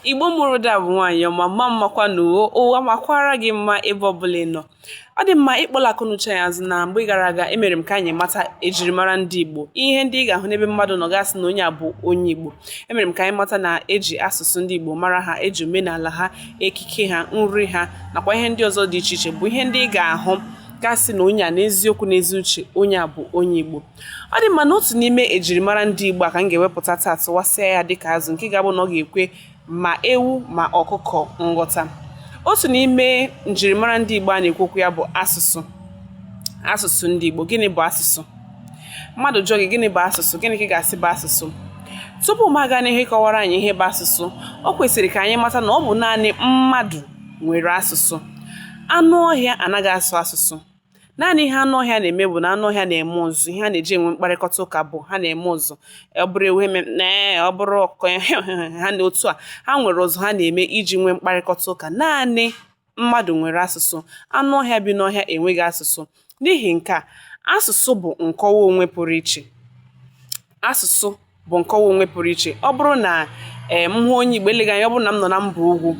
igbo mụrụ da bụ nwaanyị ọma mma mmakwanụ o ụwa makwara gị mma ebe ọbụla ị nọ ọ dị mma ịkpọla akọnuche anyị azụ na mgbe gara aga emere m ka anyị mata ejirimara ndị igbo ihe ndị ị ga-ahụ n'ebe mmadụ nọ ga-asị na onye a bụ onye igbo emere m ka anyị mata na eji asụsụ ndị igbo mara ha eji omenala ha ekike ha nri ha nakwa ihe ndị ọzọ dị iche iche bụ ihe ndị ị ga-ahụ ga-asị na onye a n'eziokwu n'ezi uche onye a bụ onye igbo ọ dị mma na otu n'ime ejirimara ndị Igbo a ka m ga-ewepụta taa tụwasịa ya dịka azụ nke ga-abụ na ọ ga-ekwe ma ewu ma ọkụkọ nghọta otu n'ime njirimara ndị Igbo a na-ekwu okwu ya bụ asụsụ asụsụ ndị Igbo gịnị bụ asụsụ mmadụ jụọ gị gịnị bụ asụsụ gịnị ka ị ga-asị bụ asụsụ tupu m aga n'ihu kọwaara anyị ihe bụ asụsụ o kwesịrị ka anyị mata na ọ bụ naanị mmadụ nwere asụsụ anụ ọhịa anaghị asụ asụsụ naanị ihe anụ ọhịa na-eme bụ na anụ ọhịa na-eme ụzụ ihe ha na-eji enwe mkparịkọta ụka bụ ha na-eme ụzụ ọ bụrụ ewu eme nee ọ bụrụ ọkụkọ na otu a ha nwere ụzụ ha na-eme iji nwee mkparịkọta ụka naanị mmadụ nwere asụsụ anụ ọhịa bi n'ọhịa enweghị asụsụ n'ihi nke a asụsụ bụ nkọwa onwe pụrụ iche asụsụ bụ nkọwa onwe pụrụ iche ọ bụrụ na ee m hụ onye igbo eleghị anya ọ bụrụ na m nọ na mba ugwu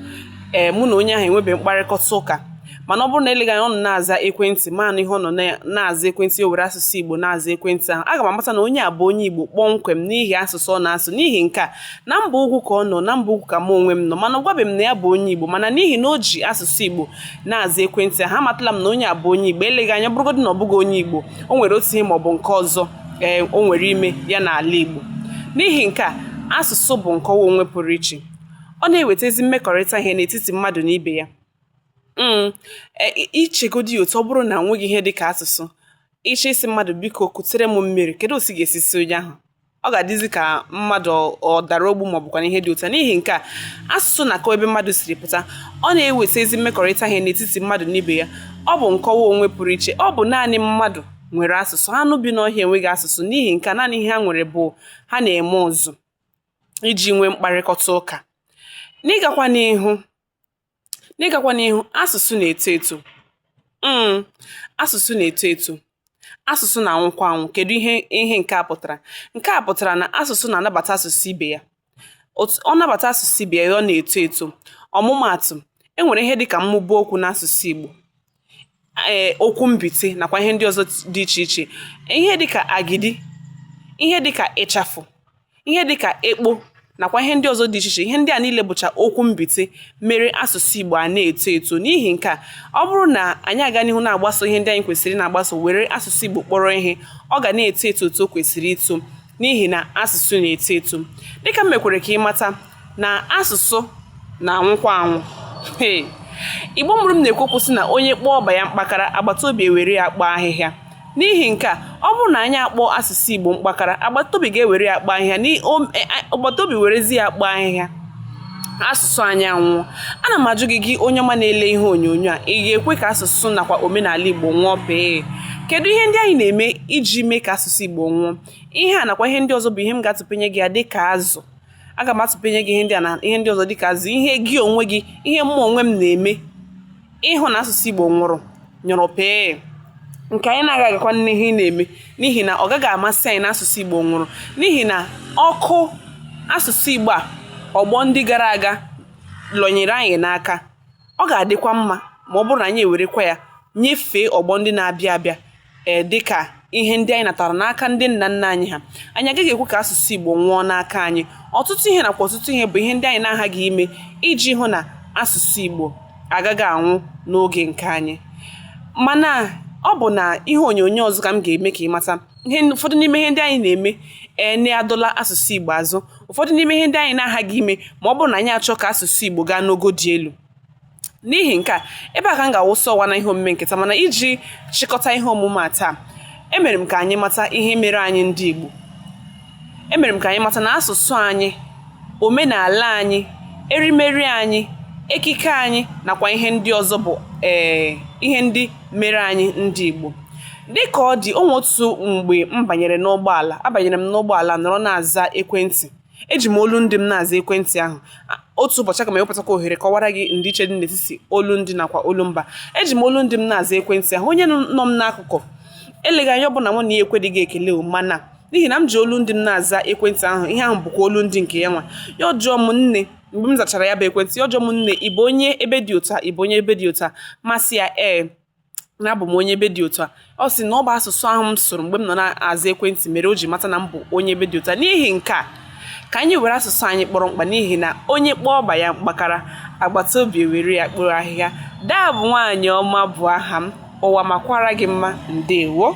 ee mụ na onye ahụ enwebeghị mkparịkọta ụka mana ọ bụrụ na eleghị anya ọ nọ na-aza ekwentị m anụ ihe ọ nọ na- na-aza ekwentị o were asụsụ igbo na-aza ekwentị ahụ aga m amata na onye a bụ onye igbo kpọmkwem n'ihi asụsụ ọ na-asụ n'ihi nke a na mba ugwu ka ọ nọ na mba ugwu ka mụ onwe m nọ mana ọ gwabeghị m na ya bụ onye igbo mana n'ihi na o ji asụsụ igbo na-aza ekwentị ahụ amatala m na onye a bụ onye igbo eleghị anya ọ bụrụgodị na ọ bụghị onye igbo o nwere otu ihe maọbụ nke ọzọ ee eh, o nwere ime ya n'ala Igbo n'ihi nke a asụsụ bụ nkọwa onwe pụrụ iche ọ na-eweta ezi mmekọrịta ihe n'etiti mmadụ na ibe ya mm, eh, i chegodi ya otu ọ bụrụ na enweghị ihe dị ka asụsụ ị chọọ ịsị mmadụ biko kutere m mmiri kedu otu ị ga-esi sị onye ahụ ọ ga-adịzi ka mmadụ ọ dara ogbu ma ọ bụkwanụ ihe dị otu a n'ihi nke a asụsụ na-akọwa ebe mmadụ siri pụta ọ na-eweta ezi mmekọrịta ihe n'etiti mmadụ na ibe ya ọ bụ nkọwa onwe pụrụ iche ọ bụ naanị mmadụ nwere asụsụ anụ bi n'ọhịa enweghị asụsụ n'ihi nke a naanị ihe ha nwere bụ ha na-eme ụzụ iji nwee mkparịkọta ụka n'ịgakwa n'ihu N'ịgakwa n'ihu, asụsụ na-eto eto. um Asụsụ na-eto eto. Asụsụ na-anwụkwa anwụ. Kedu ihe ihe nke a pụtara? Nke a pụtara na asụsụ na-anabata asụsụ ibe ya. Ọ nabata asụsụ ibe ya, ọ na-eto eto. Ọmụmaatụ, e nwere ihe dịka mmụba okwu n'asụsụ Igbo. ee okwu mbite nakwa ihe ndị ọzọ dị iche iche ihe dịka agidi ihe dịka ịchafụ ihe dịka ekpo nakwa ihe ndị ọzọ dị iche iche ihe ndị a niile bụcha okwu mbite mere asụsụ Igbo a na-eto eto n'ihi nke a ọ bụrụ na anyị aga n'ihu na-agbaso ihe ndị anyị kwesịrị na-agbaso were asụsụ Igbo kpọrọ ihe ọ ga na-eto eto otu o kwesịrị ito n'ihi na asụsụ na-eto eto dịka m mekwere ka ị mata na asụsụ na-anwụkwa anwụ igbo mụrụ m na-ekwu okwu sị na onye kpọọ ọba ya mkpakara agbata obi ewere ya kpoo ahịhịa n'ihi nke a ọ bụrụ na anyị akpọọ asụsụ igbo mkpakara agbata obi ga-ewere ya kpoo ahịhịa e, agbata obi werezi ya kpoo ahịhịa asụsụ anyị anwụọ ana m ajụ gị gị onye ọma na-ele ihe onyonyo a ị ga-ekwe ka asụsụ nakwa omenala igbo nwụọ pee kedu ihe ndị anyị na-eme iji mee ka asụsụ igbo nwụọ ihe a nakwa ihe ndị ọzọ bụ ihe m ga-atụpenye gị ya dị ka azụ aga m atụpenye gị ihe ndị a na ihe ndị ọzọ dịka azụ ihe gị onwe gị ihe mụ onwe m na-eme ịhụ na asụsụ Igbo nwụrụ nyụrụ pee nke anyị na-agaghị agakwa n'ihu na-eme n'ihi na ọ gaghị amasị anyị na asụsụ Igbo nwụrụ n'ihi na ọkụ asụsụ Igbo a ọgbọ ndị gara aga lọnyere anyị n'aka ọ ga-adịkwa mma ma ọ bụrụ na anyị ewerekwa ya nyefee ọgbọ ndị na-abịa abịa ee dịka ihe ndị anyị natara n'aka ndị nna nna anyị ha anyị agaghị ekwe ka asụsụ Igbo nwụọ n'aka anyị ọtụtụ ihe nakwa ọtụtụ ihe bụ ihe ndị anyị na-aghaghị ime iji hụ na asụsụ Igbo agaghị anwụ n'oge nke anyị mana ọ bụ n'ihe onyonyo ọzọ ka m ga-eme ka ị mata ihe ụfọdụ n'ime ihe ndị anyị na-eme ee na-adọla asụsụ Igbo azụ ụfọdụ n'ime ihe ndị anyị na-aghaghị ime ma ọ bụrụ na anyị achọọ ka asụsụ Igbo gaa n'ogo dị elu n'ihi nke a ebe a ka m ga-awụsa ọwa n'ihe omume nke taa mana iji chịkọta ihe omume a taa emere m ka anyị mata ihe mere anyị ndị Igbo emere m ka anyị mata na asụsụ anyị omenala anyị erimeri anyị ekike anyị nakwa ihe ndị ọzọ bụ ee eh, ihe ndị mere anyị ndị Igbo dịka ọ dị o nwee otu mgbe m banyere n'ụgbọala abanyere m n'ụgbọala nọrọ na-aza ekwentị eji m olu ndị m na-aza ekwentị ahụ otu ụbọchị aga m ewepụtakwa ohere kọwara gị ndịiche dị n'etiti olu ndị nakwa olu mba eji m olu ndị m na-aza ekwentị ahụ onye nọ m n'akụkụ eleghị anya ọ bụ na mụ na ya ekeleghị ekele o mana n'ihi na m ji olu ndị m na-aza ekwentị ahụ ihe ahụ bụkwa olu ndị nke ya nwa ya ajụọ m nne mgbe m zachara ya bụ ekwentị ya ajụọ m nne ị bụ onye ebe dị otu a ị bụ onye ebe dị otu a m asị ya ee na abụ m onye ebe dị otu a ọ sị na ọ bụ asụsụ ahụ m sụrụ mgbe m nọ na-aza ekwentị mere o ji mata na m bụ onye ebe dị otu a n'ihi nke a ka anyị were asụsụ anyị kpọrọ mkpa n'ihi na onye kpọọ ọba ya mkpakara agbata obi ewere ya kporo ahịhịa daa bụ nwaanyị ọma bụ aha m ụwa makwara gị mma ndewo